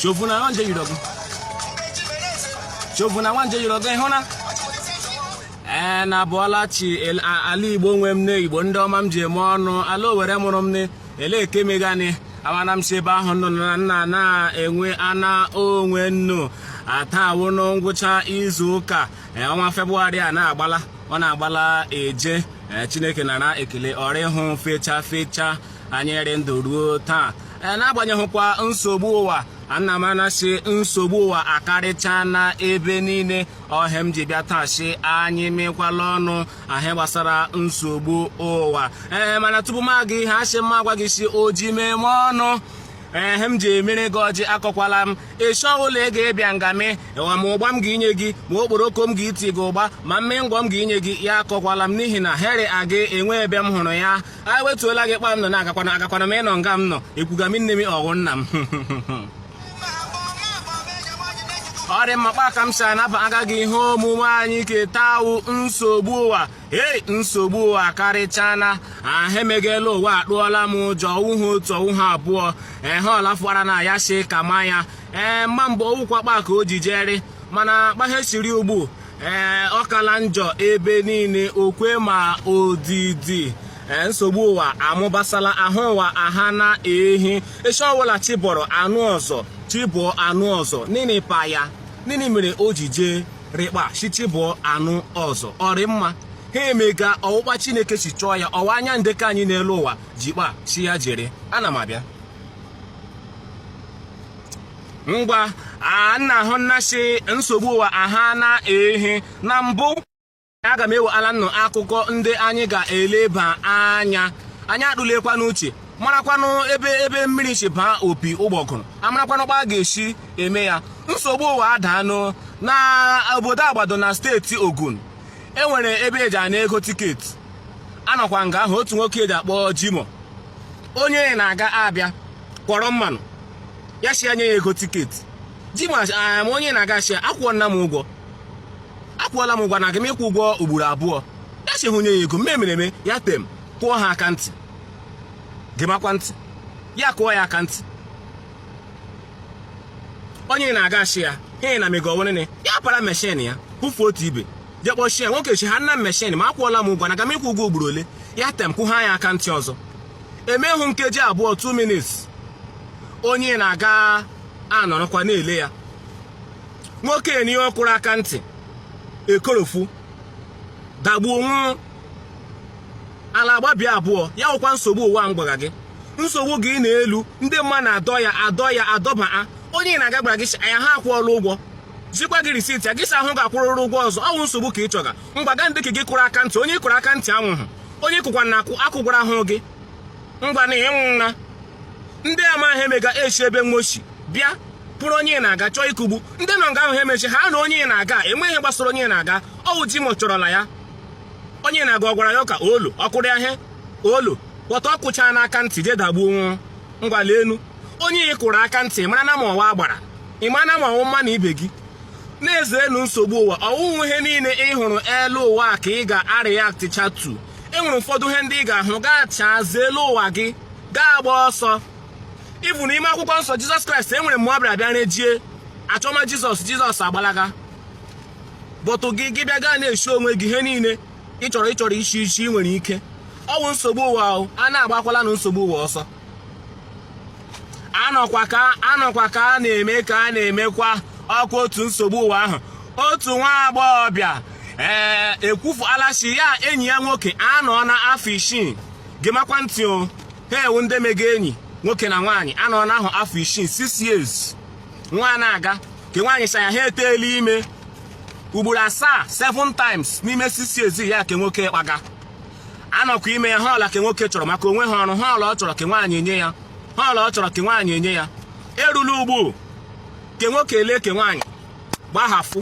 shovu na nwanje yiri ọgụ shovu na nwanje yiri ọgụ ịhụ na ee na abọọla chi el- a- ala igbo nwe m ne igbo ndị ọma m ji eme ọnụ ala owere mụrụ m ne ele eke megani amana m si ebe ahụ nọ na nna na-enwe ana onwe nnu taa wụ nụ ngwụcha izu ụka ee, ọnwa febụwarị a na-agbala ọ na-agbala eje ee, chineke nara ekele ọrịa ịhụ fecha fecha anyị rị ndụ ruo taa e, n'agbanyeghịkwa nsogbu ụwa ana m anụ sị nsogbu ụwa akarịchana ebe niile ọ ihe m ji bịa taa sị anyị mekwala ọnụ ihe gbasara nsogbu ụwa ee mana tupu m aga ihu asị m agwa gị sị oji mee m ọnụ ihe m ji emere gị ọjị akọkwala m ịchọ ụlọ ị ga-abịa nga mee ma ụgba m ga-inye gị ma okporoko m ga-iti gị ụgba ma mmịị ngwọ m ga-inye gị ya akọkwala m n'ihi na he rị aga enwe ebe m hụrụ ya anyị wetuola gị kpa m nọ na agakwanụ m ịnọ nga m nọ ekwuga m nne m ọ wụ nna m ọ rị mma kpa ka m si anabaga gị ihe omume anyị ke taa wụ nsogbu ụwa ei nsogbu ụwa karịchana ihe mega la ụwa atụọla m ụjọ ọ wụhụ otu ọ wụhụ abụọ ehe ọlafụara na ya sị kama ya ee mma mgbe ọ wụkwa kpa ka o ji je rị mana kpa ihe si rị ugbu ee ọ kala njọ ebe niile okwe ma odidi Eh, nsogbu ụwa amụbasala ahụhụ ụwa aha na ehi echi ọbụla chi bọrọ a nụ ọzọ chi bọọ a nụ ọzọ nịnị kpa ya nịnị mere o ji jee rị kpa sị chi bọọ a nụ ọzọ ọ rị mma he mega ọ wụ kpa chineke si chọọ ya ọ wụ anyị ndekọ anyị n'elu ụwa ji kpa sị ya je rị ana m abịa ngwa a nnu ahụna sị nsogbu ụwa aha na ehi na mbụ aga m ewetala nnu akụkọ ndị anyị ga-eleba anya anyị atụlekwa n'uche marakwanụ ebe ebe mmiri si baa opi ụgbọgụrụ a marakwanụ kpa a ga-esi eme ya nsogbu ụwa adaanụ na obodo agbado na steeti ogun e nwere ebe e ji ana ego tiketi a nọkwa nga ahụ otu nwoke e ji akpọ jimoh onye ịnaga abịa kwọrọ mmanụ ya sị ya nye ya ego tiketi jimoh, onye ịnaga sị akwụọla m ụgwọ akwụọla m ụgwọ na aga m ịkwụ ụgwọ ugboro abụọ ya sị ya nye ya ego mme mere eme ya tem kụọ ya aka ntị gemakwa ntị ya kụọ ya aka ntị onye ịnaga sị ya he na mega ọ wụ nịnị ya para meshin ya kwụfuo otu ibe je kpọchie nwoke sị ya nna m meshin ma akwụọla m ụgwọ na aga m ịkwụ ụgwọ ugboro ole ya tem kụọ ya aka ntị ọzọ emehụ nkeji abụọ 2 minutes onye na-aga anọrọkwa na-ele ya nwoke enyi ọ kụrụ aka ntị ekorofu dagbuo nwụọ ala agbabia abụọ ya wụkwa nsogbu ụwa m gwaga gị nsogbu gị na-elu ndị mma na-adọ ya adọ ya adọba a onye na-aga gwara gị shi aya ha akwụọla ụgwọ zikwa gị risiti ya gị si ahụ ga-akwụrụrụ ụgwọ ọzọ ọ wụ nsogbu ka ị chọga ngwa ga ndị ka gị kụrụ aka ntị onye ị kụrụ aka ntị anwụhụ onye ị kụkwanụ aka akụgwarahụ gị ngwa na ịnwụ nna ndị ama he emega eshi ebe wo shi bịa pụrụ onye na-aga chọọ ịkụgbu ndị nọ nga ahụ ha emechi ha na onye na-aga enwe he gbasara onye na-aga ọ wụ ji mo chọrọla ya onye na-aga ọ gwara ya ka olu ọ kụrụ ya he olu kpọta ọ kụcha n'aka ntị je dagbuo nwụọ ngwa leenụ onye ị kụrụ aka ntị ị maranụ ma ọ wụ agbara ị maranụ ma ọ wụ mmanụ ibe gị na-ezerenụ nsogbu ụwa ọ wụhụ ihe niile ị hụrụ elu ụwa ka ị ga-areactịcha to e nwere ụfọdụ ihe ndị ị ga-ahụ gaa chaa elu ụwa gị gaa gbaa ọsọ even n'ime akwụkwọ nsọ jizọs kraịst e nwere mgbe ọ bịara bịa rejie a chọma jizọs jizọs agbalaga but gị gị bịa gaa na-eshi onwe gị ihe niile ị chọrọ ị chọrọ ishi ishi ị nwere ike ọ wụ nsogbu ụwa ahụ a na-agbakwalanụ nsogbu ụwa ọsọ anọkwa ka anọkwa ka a na-eme ka a na-emekwa ọkwa otu nsogbu ụwa ahụ otu nwa agbọghọbịa ee ekwufuala shi ya enyi ya nwoke anọọna afọ isii gemakwa ntị o ha wụ ndị mega enyi nwoke na nwaanyị anọọna ahụ afọ isii six years nwa na-aga ke nwaanyị sị aya ha eteela ime ugboro asaa seven times n'ime six years ya ke nwoke kpaga anọkwa ime ya ihe ọwụla ke nwoke chọrọ maka o nwehụ ọrụ ihe ọwụla ọ chọrọ ke nwaanyị enye ya ihe ọwụla ọ chọrọ ke nwaanyị enye ya erula ugbu ke nwoke ele ke nwaanyị gbahafụ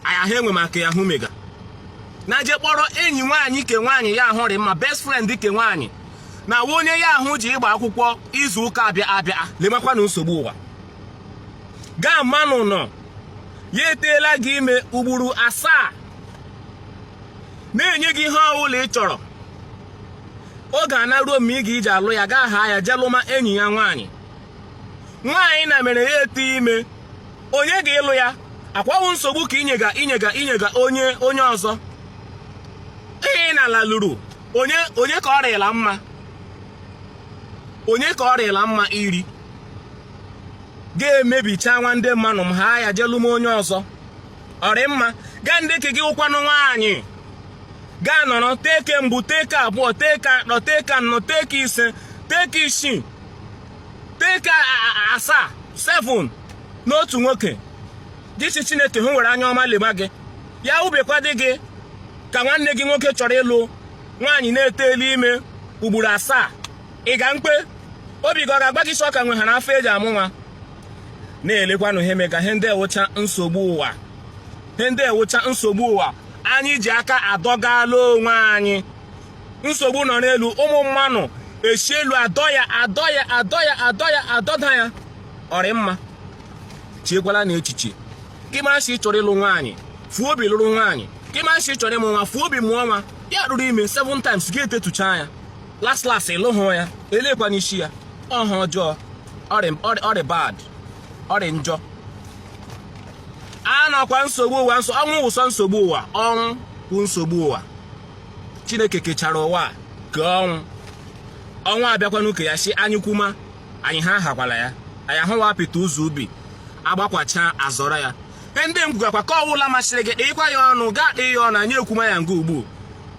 aya ha enwe maka ya hụ mega na je kpọrọ enyi nwaanyị ke nwaanyị ya ahụ rị mma best friend ke nwaanyị na onye ya ahụ je ịgba akwụkwọ izu ụka abịa abịa lemakwanụ nsogbu ụwa gaa mmanụ nọ ya eteela gị ime ugboro asaa na-enye gị ihe ọbụla ị chọrọ oge anaa ruo mgbe ị ga iji alụ ya gị ahaa ya je lụma enyi ya nwaanyị nwaanyị na mere ya etee ime onye ga ịlụ ya ọkwa wụ nsogbu ka ị nyega ị nyega ị nyega onye onye ọzọ ihe ị na-ala lụrụ onye onye ka ọ rịla mma onye ka ọ rịla mma iri ga-emebicha nwa ndị mmanụ ị haa ya je lụma onye ọzọ ọ rị mma gaa ndị ke gị wụkwanụ nwaanyị gaa nọrọ tee ke mbụ tee ke abụọ tee ke atọ tee ke anọ tee ke ise tee ke isii tee ke asaa seven n'otu nwoke dịchi chineke hụ were anya ọma leba gị ya ubekwa dị gị ka nwanne gị nwoke chọrọ ịlụ nwaanyị na eteela ime ugboro asaa ị ga mkpe obi gị ọ ga-agwa gị si ọ ka nwe ha n'afọ e ji amụ nwa na-elekwanụ ihe mega ihe ndị a wụcha nsogbu ụwa ihe ndị a wụcha nsogbu ụwa anyị ji aka adọgala onwe anyị nsogbu nọ n'elu ụmụ mmanụ esi elu adọ ya adọ ya adọ ya adọ ya adọda ya ọ rị mma chiekwala na echiche gị mara si chọrọ ịlụ nwaanyị fuo obi lụrụ nwaanyị gị mara si chọrọ ịmụ nwa fuo obi mụọ nwa ya rụrụ ime 7 times gị etetụcha ya last last ị lụhụ ya e lekwanụ isi ya ọ ha ọjọọ ọ rị bad ọ rị njọ anọkwa nsogbu ụwa nsọ ọnwụ wụsọ nsogbu ụwa ọnwụ wụ nsogbu ụwa chineke kechara ụwa kee ọnwụ ọnwụ abịakwanụ ke ya si anyị kwuma anyị ha ahakwala ya anyị ahụwa apịta ụzọ ubi agbakwacha azọrọ ya ndị m gwakwa ke ọwụla masịrị gị ịkwa ya ọnụ gaa kpee ya ọnụ anyị ekwuma ya nga ugbu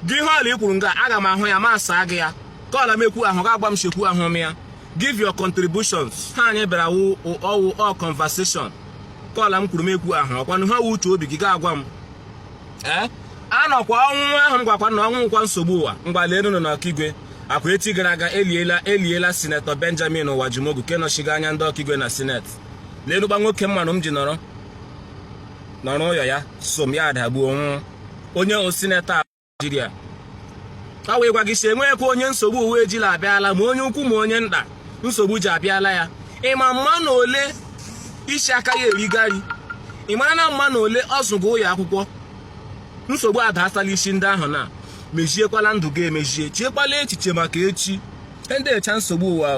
gị ihe ọla i kwuru nga aga m ahụ ya ma saa gị ya ke ọla m ekwuhụ gị agwa m si ekwuhụ m ya give your contributions ha anyị bịara wụ ọ wụ all conversation ke ọla m kwuru m ekwuhụ ọkwanụ ha wụ uche obi gị ga-agwa m ee eh? anọkwa ọnwụ ahụ m gwakwa na ọnwụ wụkwa nsogbu ụwa mgbalelu nọ n'okigwe ọkwa echi gara aga eliela eliela sinetọ benjamin uwajumogu ke nọchiga anya ndị okigwe na sineti leenụkwa nwoke mmanụ m ji nọrọ nọrọ ụyọ ya so m ya adagbuo nwụọ onye wụ sinetọ Naijiria ọ wee gwa gị si enweghịkwa onye nsogbu ụwa ejila abịala ma onye ukwu ma onye nta nsogbu ji abịala ya ị ma mmanụ ole si aka ya eriga nri ị mara na mmanụ ole ọ zụga ụyọ akwụkwọ nsogbu adaatala isi ndị ahụ na meziekwala ndụ gị emezie chiekwala echiche maka echi ndị a wụcha nsogbu ụwa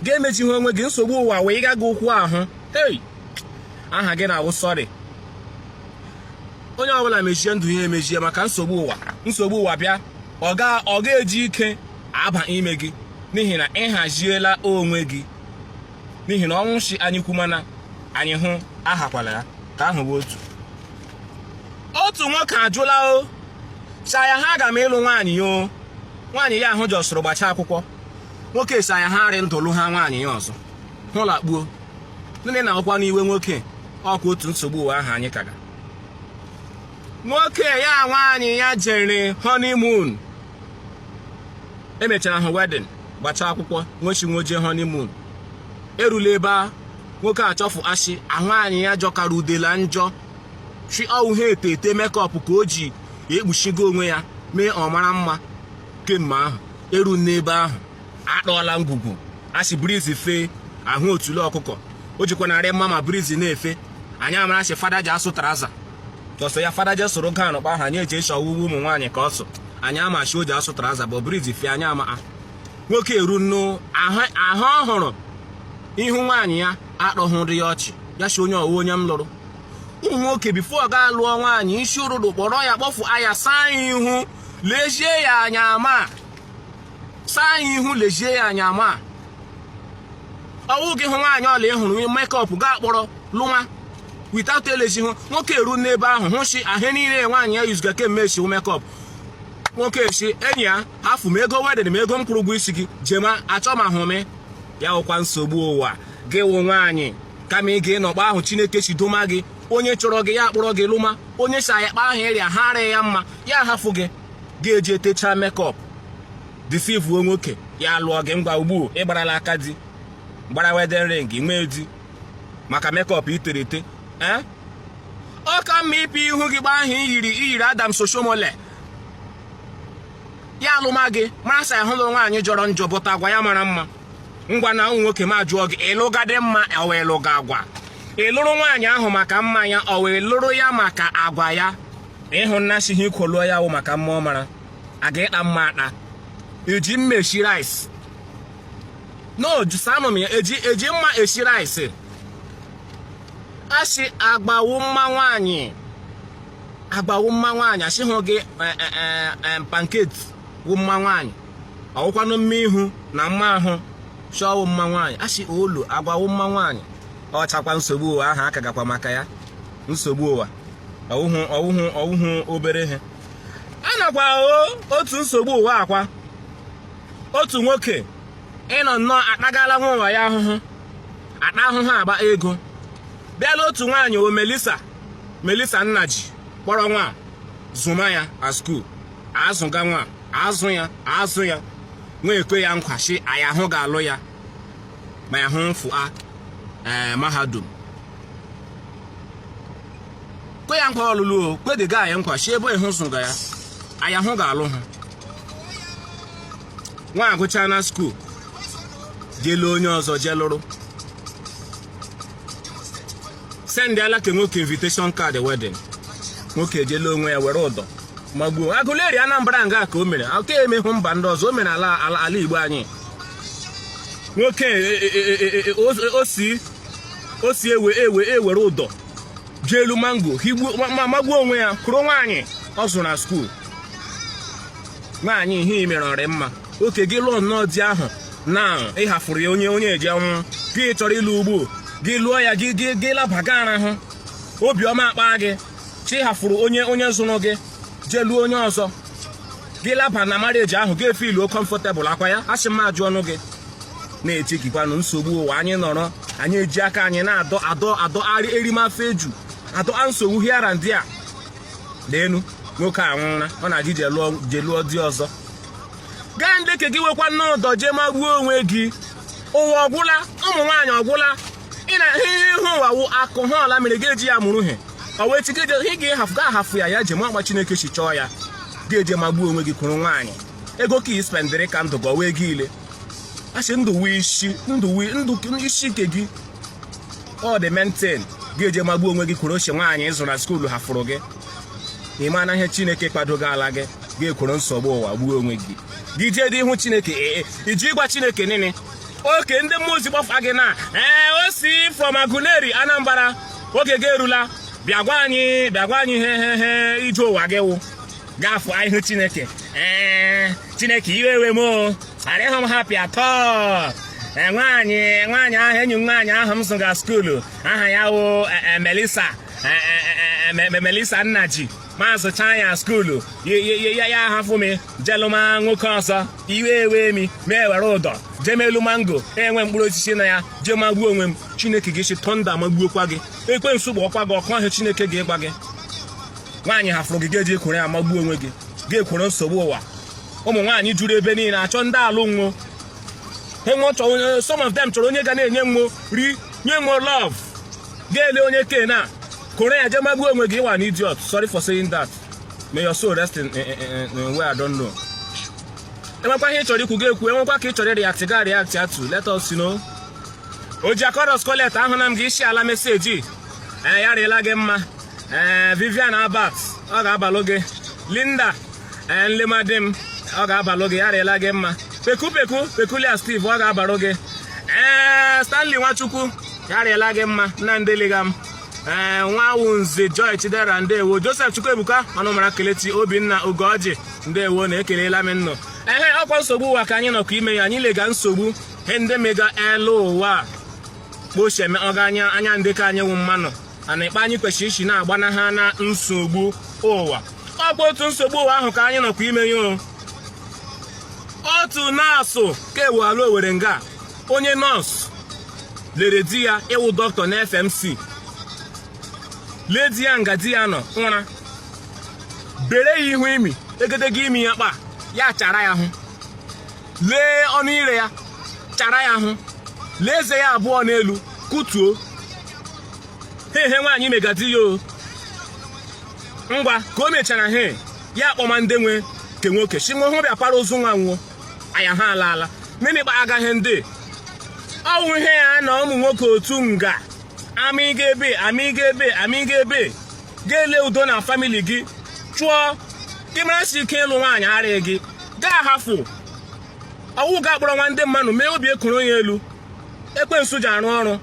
gị emezighị onwe gị nsogbu ụwa wee ịga gị ụkwụ ahụ hei aha gị na-awụ sorry onye ọbụla mezie ndụ ya emezie maka nsogbu ụwa nsogbu ụwa bịa ọ ga-eji ike aba ime gị n'ihi na ị haziela onwe gị n'ihi na ọnwụ si anyị kwuma na anyị hụ ahakwala ya ke ahụ wụ otu otu nwoke ajụla o cha ya ha aga m ịlụ nwaanyị ya o nwaanyị ya ahụ jọsụrụ gbacha akwụkwọ nwoke si ya ha arị ndụ lụ ha nwaanyị ya ọzọ hụla kpuo ndị na-akwụkwa n'iwe nwoke ọkwa otu nsogbu ụwa ahụ anyị kaga nwoke ya nwaanyị ya jere honeymoon emechara hụ wedding gbacha akwụkwọ nwee shi nwo jee honeymoon erula ebe a nwoke achọfụ ashi nwaanyị ya jọkara udela njọ shi ọwụ ha ete ete makeup ka o ji ekpuchigo onwe ya mee ọ mara mma kemgbe ahụ eru n'ebe ahụ atọọla ngwugwu asị breeze fee ahụ otule ọkụkọ o jikwa narị mma ma breeze na-efe anyị amara asị fada ji asụ trouser ọsọ ya fada ji sụrụ gown kpa ahụ anyị eji eche ọwụ uwe ụmụ nwaanyị ka ọ sụ anyị ama shi o ji asụ trouser bụ breeze fee anyị ama nwoke eru nnu ahụ ọ hụrụ ihu nwaanyị ya atọhụrụ ya ọchị ya si onye ọwụ onye m lụrụ ụmụ nwoke before ọ ga lụọ nwaanyị isi ụtụtụ kpọrọ ya kpọfụ ya saa ihu lejie ya anya ma saa ihu lejie ya anya ma ọwụ gị hụ nwaanyị ọla ị hụrụ makeup gaa kpọrọ lụwa without elezi ihu nwoke eru n'ebe ahụ hụ si ahụ niile nwaanyị ya yuziga kemgbe si makeup nwoke si enyi ya hafụ m ego wedding m ego m kwụrụ ụgwọ isi gị jema achọmahụ m ya wụkwa nsogbu ụwa gị wụ nwaanyị kama ị ga-anọ kpa ahụ chineke si doma gị onye chọrọ gị ya kpọrọ gị lụma onye si ya kpa ahụ ị rị ahụ arịa ya mma ya hafụ gị ga-eji etechaa makeup deceive-uo nwoke ya lụọ gị ngwa ugbu ị gbarala aka di gbara wedding ring nwee di maka makeup i tere ete ee eh? ọ ka mma ịpụ ihu gị kpa ahụ i yiri i yiri adams oshiomhole ya alụma gị mara sa ahụ lụrụ nwaanyị jọrọ njọ but agwa ya mara mma ngwanụ ụmụ nwoke m ajụọ gị ị lụgadị mma ọ wụ ị lụga agwa ị lụrụ nwaanyị ahụ maka mma ya ọ wụ ị lụrụ ya maka agwa ya ị hụna si ihe i kwo lụọ ya wụ maka mma ọ mara a ga ịta mma ata eji mma esi rice no zanụ m ya eji eji mma esi rice asị agwa wụ mma nwaanyị agwa wụ mma nwaanyị asịhụ gị pancake wụ mma nwaanyị ọwụkwanụ mma ihu na mma ahụ shi ọwụ mma nwaanyị asị olo agwa wụ mma nwaanyị ọchakwa nsogbu ụwa ahụ a kagakwa maka ya nsogbu ụwa ọwụhụ ọwụhụ ọwụhụ obere ihe a nakwa otu nsogbu ụwa akwa otu nwoke ịnọ nnọọ atagala nwa ụwa ya ahụhụ ata ahụhụ akpa ego bịa lụọ otu nwaanyị o melisa melisa nnaji kpọrọ nwa zụma ya a school azụga nwa azụ ya azụ ya nwa ekwe ya nkwa shi aya ahụ ga-alụ ya ma ya hụ fụa eh, mahadum kwe ya nkwa ọlụlụ o kwedịga ya nkwa shi ebe ị hụ zụga ya aya ahụ ga-alụ ha nwa agụcha na skuul jele onye ọzọ jelụrụ sendịala ke nwoke invitation card wedding nwoke ejela onwe ya were ụdọ magbuo Aguleri Anambra nga ka o mere ọ ka emehụ mba ndị ọzọ o mere ala ala igbo anyị nwoke o si ewe ewe ewere ụdọ jee elu mango ma magbuo onwe ya kworo nwaanyị ọ zụrụ na skuul nwaanyị ihe i mere ọ rị mma okay gị lụọ nnọọ di ahụ na ị hafụrụ ya onye onye eji anwụ gị chọrọ ịlụ ugbo gị lụọ ya gị gị gị labaga arahụ obiọma akpa gị chi hafụrụ onye onye zụrụ gị jee lụọ onye ọzọ gị laba na marriage ahụ gị efiluo comfortable ọkwa ya asị m ajụọnụ gị na-echekikwanụ nsogbu ụwa anyị nọrọ anyị eji aka anyị na-adọ adọ adọ arị erimafe eju adọ a nsogbu here and there leenụ nwoke a nwụra ọ na-aga ije lụọ di ọzọ gaa ndị ke gị wekwanụ ụdọ jee magbuo onwe gị ụwa ọ gwụla ụmụ nwaanyị ọ gwụla ị na ihe ihe ụwa wụ akụ ha ọla mere gị eji ya mụrụ ihe ọ wee chike je ị ga-ahafụ ga ahafụ ya ya je ma ọ kpa chineke si chọọ ya gị eje magbuo onwe gị kworo nwaanyị ego ke ị spendịrị ka ndụ gị ọwa ego ile a sị ndụ wụ isi ndụ wụ ndụ isi ke gị ọ dị maintain gị eje magbuo onwe gị kworo shi nwaanyị ị zụrụ na skuulu hafụrụ gị ị manụ ihe chineke kwadogala gị gị ekworo nsogbu ụwa gbuo onwe gị gị jeedị ihu chineke ee eh, eh, i ji ịgwa chineke nịnị okay ndị mmụọ ozi kpọfa gị na ee eh, o si from Aguleri Anambra oge gị erula bịa gwa anyị bịa gwa anyị he he he ije ụwa gị wụ gafụ ihu chineke ee chineke iwe wee m o arịghị m happy at all nwaanyị nwaanyị ahụ enyi m nwaanyị ahụ m zụga skuulu aha ya wụ Melissa Melissa Nnaji m azụchaa ya skuulu ya ya ahafụ m je lụma nwoke ọzọ iwe ewe m m ewere ụdọ jeme elu mango enwe mkpụrụ osisi na ya jee magbuo onwe m chineke gị asị thunder magbuokwa gị ekwensu kpọkwa gị ọkụ ọ he chineke ga-agwa gị nwaanyị hafụrụ gị gị eji ekworo ya magbuo onwe gị gị ekworo nsogbu ụwa ụmụ nwaanyị juru ebe niile achọ ndị alụ nwo enwe some of them chọrọ onye ga na-enye nwo nri nye nwo love gị elee onye kena kworo ya jee magbuo onwe gị ị wụ an idiot sorry for saying that may your soul rest in, in, in, in where I don't know enwekwa ihe ị chọrọ ikwu gị ekwu enwekwa ka ị chọrọ ịreact gị areactịatụ let us know Ojiako Rose Colette ahụla m gị isi ala meseji ee ya rịela gị mma ee Vivian Albert ọ ga-abalụ gị Linda ee nlemadim ọ ga-abalụ gị ya rịela gị mma peku peku peculiar steve ọ ga-abarụ gị ee stanley nwachukwu ya rịela gị mma nna ndeliga m ee nwawụnze joy chidera ndewo joseph chukwuebuka ọnụmara kelechi obinna ugoji ndewo na ekelela m ụnụ ehe ọkwa nsogbu ụwa ka anyị nọkwa ime ya anyị lega nsogbu he ndị mega elu ụwa kpocheme ọga anya anya ndị ka anyị wụ mmanụ a na-ekpe anyị kwesịrị isi na-agbanaha na nsogbu ụwa ọkwa otu nsogbu ụwa ahụ ka anyị nọkwa ime ya otu nọọsụ ka ewuala owere nga onye nọọsụ lere di ya ịwụ dọkịta na FMC lee di ya nga di ya nọ ụra bere ya ihu imi egedege imi ya kpa ya chara ya hụ lee ọnụ ire ya chara ya hụ lee eze ya abụọ n'elu kụtuo ha ihe nwaanyị mega di ya o ngwa ka o mechara he ya akpọma ndị nwe nke nwoke si nwa hụ bịa para ozu nwa nwụọ anya ha ala ala mmiri gba agaghị ndị ọwụ ihe ya na ụmụ nwoke otu nga amịga ebe amịga ebe amịga ebe gị elee udo na famili gị chụọ gị mara si ike ịlụ nwaanyị arịa gị gị ahafụ ọ wụ gị akpọrọ nwa ndị mmanụ mee obi ekoro ya elu ekwensu ji arụ ọrụ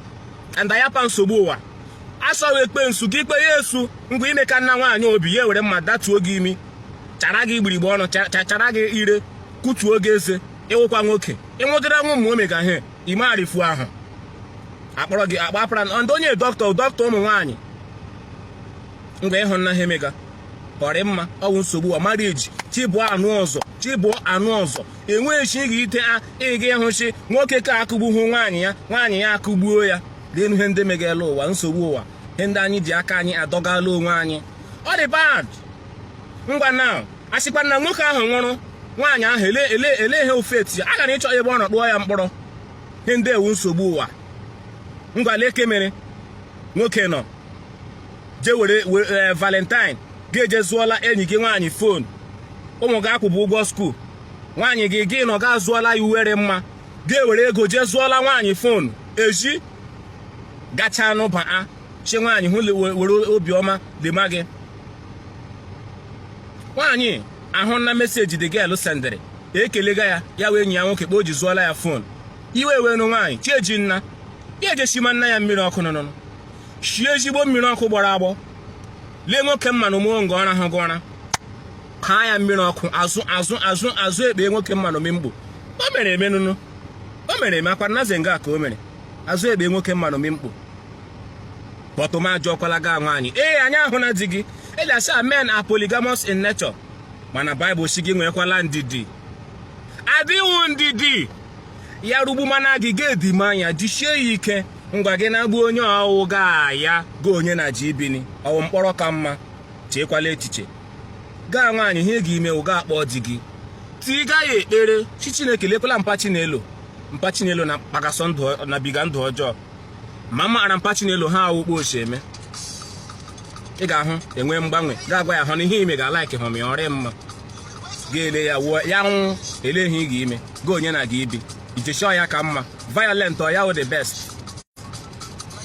and ayapa nsogbu ụwa asọghị ekwensu ka ikpe ya esu ngwa i mekanna nwaanyị ọ bịa were mma datuo gị imi chara gị egbugbere ọnụ chara gị ire kụtuo gị eze ị wụkwa nwoke ịnwụdịra nwa ụmụ omega he ime arifu ahụ akpọrọ gị akpapara ndị onye dọkịta dọkịta ụmụ nwaanyị ngwa ị hụnna he mega ọ rị mma ọ wụ nsogbu ụwa mara eji chi bọọ a nụ ọzọ chi bọọ a nụ ọzọ enweghịchi gị ite a ịga ịhụchi nwoke ke akụgbuhụ nwaanyị ya nwaanyị ya akụgbuo ya leenu ihe ndị mega elu ụwa nsogbu ụwa ihe ndị anyị ji aka anyị adọgala onwe anyị ọ dị bad ngwa na asịkwa na nwoke ahụ nwụrụ nwaanyị ahụ ele ele ele ihe ofeti ya aga na ịchọ ebe ọ nọ kpọọ ya mkpọrọ ihe ndị a wụ nsogbu ụwa ngwa lee ke mere nwoke nọ je were eh, valentine gị eje zụọla enyi gị nwaanyị fon ụmụ gị akwụbụ ụgwọ skuul nwaanyị gị gị nọ ga zụọla ya uwe rị mma gị ewere ego jee zụọla nwaanyị fon eji gachaa n'ụba a chi nwaanyị hụ were obiọma lema gị nwaanyị ahụna message the girl sendịrị ekelega ya ya wụ enyi ya nwoke kpa o ji zụọla ya fon iwe wenu nwaanyị chi ejinna ya eje shimanna ya mmiri ọkụ nụnụnụ shie ezigbo mmiri ọkụ gbọrọ agbọ lee nwoke mmanụ mụọ nga ọ rahaga ụra ghaa ya mmiri ọkụ azụ azụ azụ azụ ekpe nwoke mmanụ mkpo o mere eme nụnụ o mere eme akwa naze nga ka o mere azụ ekpe nwoke mmanụ mkpo but m ajụọkwala gị nwaanyị ee anyị ahụ na di gị e ji asị men are polygamous in nature mana baịbụl sị gị nweekwala ndidi adịghị ndidi ya rugbu mana gị ga-edima anya jisie ya ike ngwa gị na-agbu onye ọ wụ gaa ya gị onye na gị ibi ni ọ wụ mkpọrọ ka mma cheekwala echiche gị nwaanyị ihe ị ga-ime wụ gị akpọ di gị tiiga ya ekpere sị chineke lekwala mpa chinelo mpa chinelo na-akpagasị ndụ na-ebiga ndụ ọjọọ ma maara mpa chinelo ha wụ kpa o si eme ị ga-ahụ e nwee mgbanwe gị agwa ya hụ na ihe ị mega alaikihụ m ya ọ rị mma ga-ele ya wụọ ya nwụ ele ihe ị ga-ime gị onye na gị ibi ijechi ya ka mma violent ọ ya wụ the best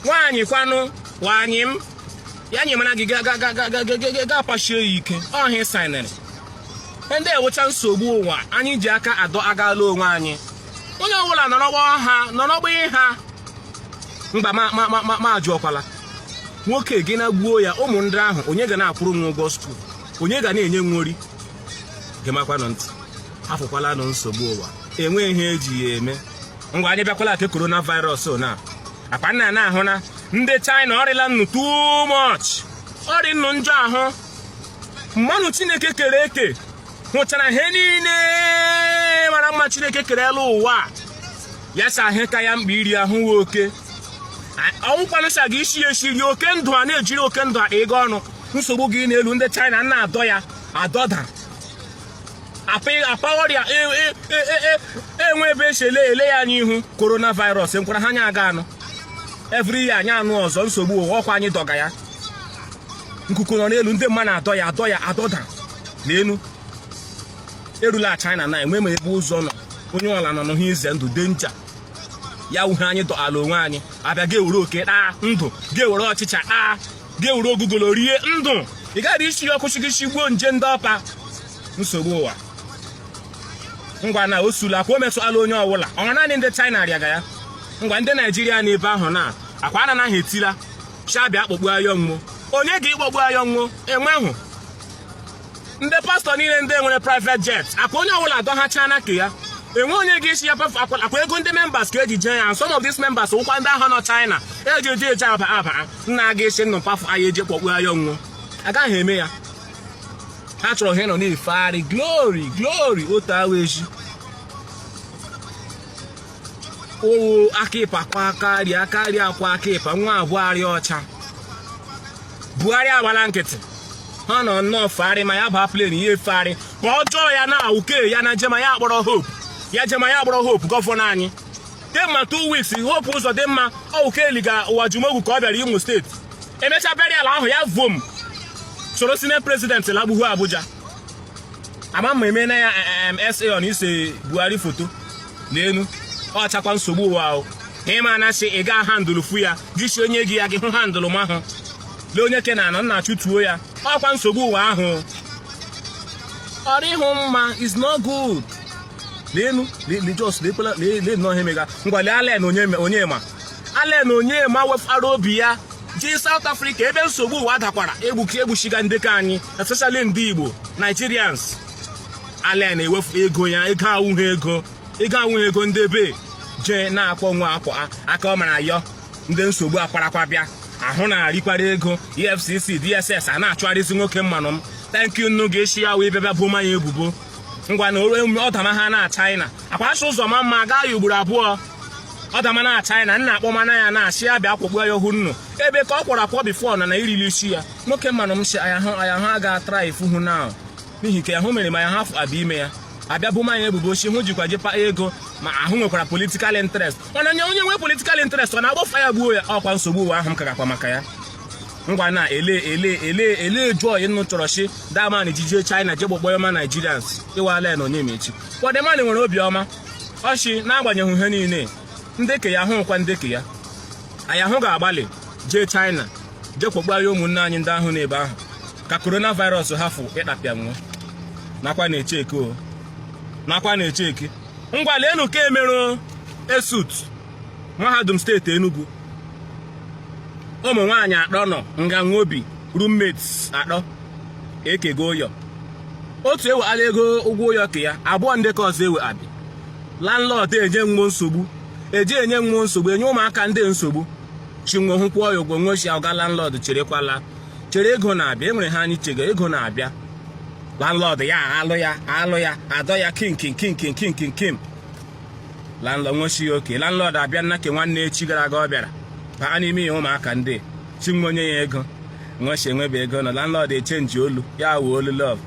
nwaanyị kwanụ nwaanyị m ya nyịmana gị gị apashie ya ike ọ ihe ị saịnịrị ndị a wụcha nsogbu ụwa anyị ji aka adọagala onwe anyị onye ọbụla nọrọ gbaa ha nọrọ gbaa ihe a mgba m ajụọkwala nwoke gị na gbuo ya ụmụ ndị ahụ onye ga na-akwụrụ nwo ụgwọ skuul onye ga na-enye nwo nri gemakwanụ ntị afụkwalanụ nsogbu ụwa enweghị ihe e ji ya eme ngwa anyị bịakwala ke korona virus na-akpa nna na-ahụ na ndị China ọ rịla nnọọ too much ọ rị nnọọ njọ anụmanụ Chineke kere eke hụchaa na ihe niile mara mma Chineke kere elu ụwa ya sị anụ ka ya mkpa iri anụ wụ oke ọ nwụkwanụ sị gị isi ya esi rie oke ndụ a na-eji eri oke ndụ a ịga ọnụ nsogbu gị n'elu ndị China na-adọ ya adọda apa ọrịa e, e, e, enwe ebe e si ele ele ya anya ihu coronavirus ụkwara ha anyị aga anụ every year anyị anụ ọzọ nsogbu ụwa ọ kwa anyị dọga ya nkuku nọ n'elu ndị mmadụ adọ ya adọda n'elu erula China na enwe ma ebe ụzọ nọ onye ọwụla nọ n'ihe ize ndụ ndị a ncha ya wụ ihe anyị dọala onwe anyị a bịa gị ewere oke taa ndụ gị ewere ọchịcha taa gị ewere ogugolo rie ndụ ị gaghị isi ya ọkụ shị gị shigbuo nje ndị ọ pa nsogbu ụwa ngwa na o sula akwa o metụala onye ọwụla ọ wụ naanị ndị China rịaga ya ngwa ndị Naijiria nọ ebe ahụ na-akwa anaghị etila shị a bịa akpọgbu ayọ nwo onye ga-ịkpọgbu ayọ nwo enwehụ ndị pastọ niile ndị nwere private jet akwa onye ọbụla adọhacha na ke ya enwe onye ga-esi ya akwa ego ndị members ka eji jee ya some of these members wụkwa ndị ahụ nọ China eji eji eji aba aba nna aga esi nnụ mkpafụ anyị eji kpọkpuya nwo agaghị eme ya ha chọrọ ha nọ na-efegharị glory glory otu awa echi owo aka ịpa kwa karịa karịa akwa aka ịpa nwa abụọ arịa ọcha Buhari agbala nkịtị ha nọ nnọọ fegharị ma ya baa plane ihe efegharị ma ọjọọ ya na uke ya na jema ya akpọrọ hope ya jema ya akpọrọ hope gọvanọ anyị demma two weeks Hope Uzodimma ọ wụ ke eliga Uwajumogu ka ọ bịara Imo steeti emecha burial ahụ ya vom soro senate president lagbuhu Abuja ama ma eme na ya SA on ise Buhari foto n'elu ọ chakwa nsogbu ụwa ahụ ịma na ị ga handụlụ fu ya gị si onye gị ya gị hụ handụlụ mahụ lee onye ke na anọ nna achụtuo ya ọkwa nsogbu ụwa ahụ ọ rịhụ mma is not good leenu just lekwela lee nnọọ ihe mega ngwa lee Allen Onyema Allen Onyema wefara obi ya jee South Africa ebe nsogbu ụwa dakwara egbuchi egbuchiga ndị ke anyị especially ndị Igbo Nigerians Allen ewefu ego ya ego awụghị ego ego awụghị ego ndị be jee na-akpọ nwa akwa aka ọ mara ayọ ndị nsogbu akwarakwa bịa ahụ na-arịkwara ego EFCC DSS a na-achụgharịzi nwoke mmanụ m thank you nnu ga-esi ya wụ ịbịa boma ya ebubo ngwa na ọdama ha na China akwa asị ụzọ ma mma gaa ya ugboro abụọ ọdama na China nna akpọmana ya na-ashị ya bịa kpọkpuya hu nnu ebe ka ọ kwọrọ akwọ before na na irili isi ya nwoke mmanụ m si aya hụ aya hụ aga try fuhu na n'ihi ka ahụ mere ma ya hafụ abịa ime ya abịa boma ya ebubo chi hụ jikwa jekpa ego ma ahụ nwekwara political interest mana onye onye nwee political interest ọ na-agbafa ya gbuo ya ọkwa nsogbu ụwa ahụ m kagakwa maka ya ngwa na ele ele ele ele joy nnu chọrọ chi the man jijie China je kpọkpuya ụmụ Nigerians ịwa Allen Onyema chi kwa the man nwere obiọma ọchị n'agbanyeghị ihe niile ndeke ya hụkwa ndeke ya aya hụ ga-agbalị jee China jee kpọkpuya ụmụnne anyị ndị ahụ n'ebe ahụ ka coronavirus hafụ ịtapịa nwo nakwa n'echi eke o nakwa n'echi eke ngwa leenu ke emeru ESUT mahadum steeti Enugu ụmụ nwaanyị atọ nọ nga nwo bi roommates atọ ekego ụyọ otu eweala ego ụgwọ ụyọ ke ya abụọ ndị ke ọzọ eweabị landlord enye nwo nsogbu eji enye nwo nsogbu enye ụmụaka ndị nsogbu sị nwo kwụọ ya ụgwọ nwo sị ọga landlord cherekwala chere ego na-abịa enwere ihe anyị chega ego na-abịa landlord ya alụ ya alụ ya adọ ya kinkin kinkin kinkin kim landlord nwo sị ya oke landlord abịa nna ke nwanne echi gara aga ọ bịara baa n'ime ihe ụmụaka ndị sị nwo nye ya ego nwo sị enwebe ego na landlord echenji olu ya wuo olu love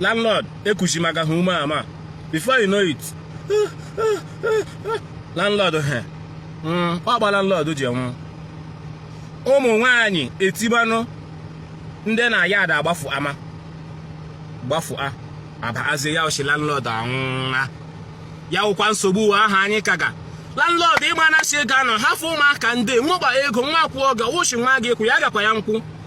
landlord ekwuzi maka ha ume ama before you know it landlord he hmm, ọ kpa landlord ji nwụọ ụmụ nwanyị etibanụ ndị na ya ada agbafu ama gbafu a abịa zie ya ozi landlord anwụna ya wụkwa nsogbu ụwa ahụ anyị kaga landlord ịgba na si ego anọ hafụ ụmụaka ndị nwo kpa ego nwo akwụọ gị ọ sị nwa gị kwụ ya gakwa ya nkwụ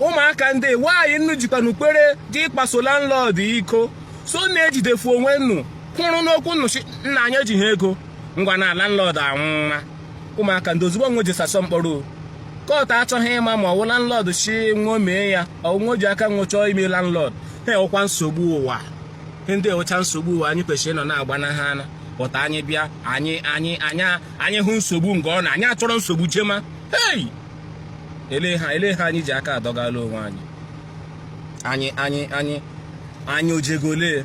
ụmụaka ndị nwaanyị nnu jikwanụ kwere je ịkpaso landlord iko so na-ejidefu onwe nnu kwụrụ n'okwu nnu sị nna anyị ejighị ego ngwa na landlord anwụna ụmụaka ndị ozugbo nwo jesasọ mkpọrọ kọt achọghị ịma ma ọwụ landlord sị nwo mee ya ọ wụ nwo ji aka nwo chọọ ime landlord ihe ọkwa nsogbu ụwa ndị wụcha nsogbu ụwa anyị kwesịrị ịnọ na-agbanaha ana pụta anyị bịa anyị anyị anya anyị hụ nsogbu nke ọ na anyị achọrọ nsogbu jema hei elee ha elee ha anyị ji aka adọgala onwe anyị anyị anyị anyị anyị ojego ole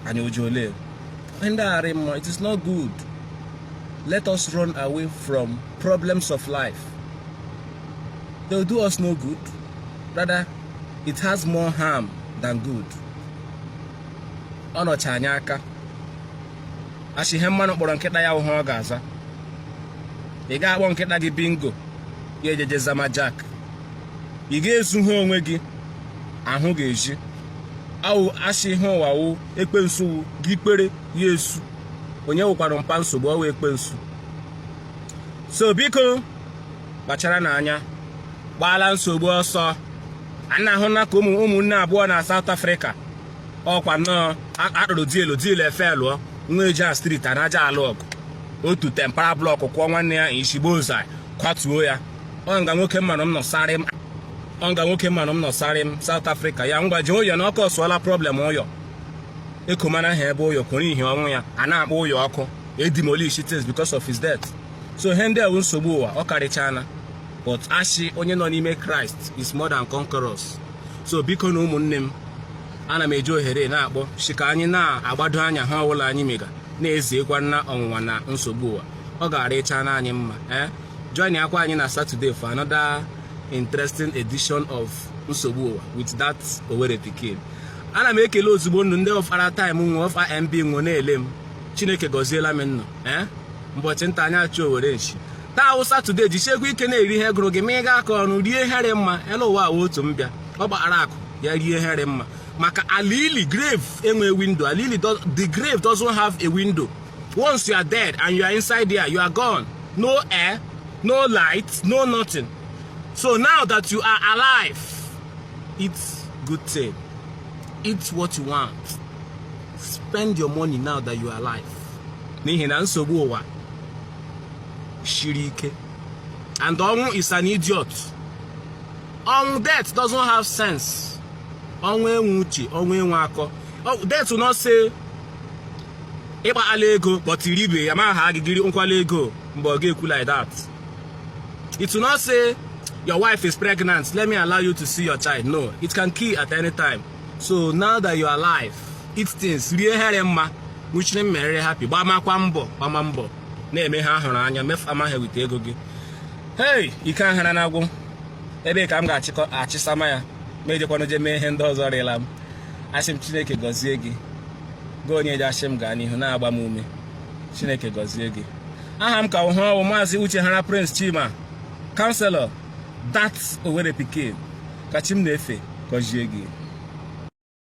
anyị oje ole ndị arị mma it is not good let us run away from problems of life they will do us no good rather it has more harm than good ọ nọcha anyị aka asị ihe mmanụ kpọrọ nkịta ya wụ ihe ọ ga-aza ị ga-akpọ nkịta gị bingo ya ejeje zama jak ị ga-ezu ha onwe gị ahụ ga-eji awụ asị ihe ụwa wụ ekpensu wụ gị kpere ya esu onye wụkwara mpa nsogbu ọ wụ ekpensu so biko kpachara n'anya gbaala nsogbu ọsọ a na-ahụ na ka ụmụnne abụọ na South Africa ọkwa nnọọ a rụrụ dielu dielu efe lụọ nwo eje na street a na-aja alụ ọgụ otu tempara blọkụ kụọ nwanne ya ishi gbozaị kwatuo ya ọ nga nwoke mmanụ m nọsarị m ọ nga nwoke mmanụ m nọsarị m South Africa ya ngwa jee ụyọ na ọkụ ọsụọla problem ụyọ ekomana ha ebe ụyọ kwụrụ ihi ọnwụ ya a na-akpọ ụyọ ọkụ edemolish things because of his death so ihe ndị a wụ nsogbu ụwa ọ karịchana but asị onye nọ n'ime kraịst is more than conquerors so biko na ụmụnne m ana m eji ohere na-akpọ shi ka anyị na-agbado anya he ọbụla anyị mega na-eziekwa na ọnwụnwa na nsogbu ụwa ọ ga-arịcha na anyị mma ee eh? joinakwa anyị na Saturday for another interesting edition of nsogbu ụwa with that Owerri pikin ana m ekele ozugbo ụnụ ndị ọfara time nwe ọfa mb nwe na-ele m chineke gọziela m ụnụ ee eh? mbọchị nta anyị achụọ owere nchi taa wụ Saturday jishiekwa ike na-eri ihe gụrụ gị ma ị gaa ka ọrụ rie he rị mma elu ụwa wụ otu mbịa ọ kpara akụ ya rie he rị mma maka ala ili grave enwe window ala ili does- the grave doesn't have a window once you are dead and you are inside there you are gone no air no light no nothing so now that you are alive eat good thing eat what you want spend your money now that you are alive n'ihi na nsogbu ụwa shiri ike and ọnwụ is an idiot ọnwụ death doesn't have sense ọnwụ enwe uche ọnwụ enwe akọ death will not say ị kpaala ego but i ribe ya ma ha gị gị ri nkwala ego mgbe ọ ga-ekwu like that it will not say your wife is pregnant let me allow you to see your child no it can kill at any time so now that you are alive eat things rie he rị mma nwuchiri m merere happy gbamakwa mbọ gbama mbọ na-eme he a hụrụ anya mefu amaghị wite ego gị hei ike ahara na agwụ ebe ka m ga-achịsama ya ma ejekwana je mee ihe ndị ọzọ rịla m asị m chineke gọzie gị gị onye ji asị m gaa n'ihu na-agba m ume chineke gọzie gị aha m ka wụ he ọ wụ maazị uchehara prince chima counselor that Owerri pikin ka chi m na-efe gọzie gị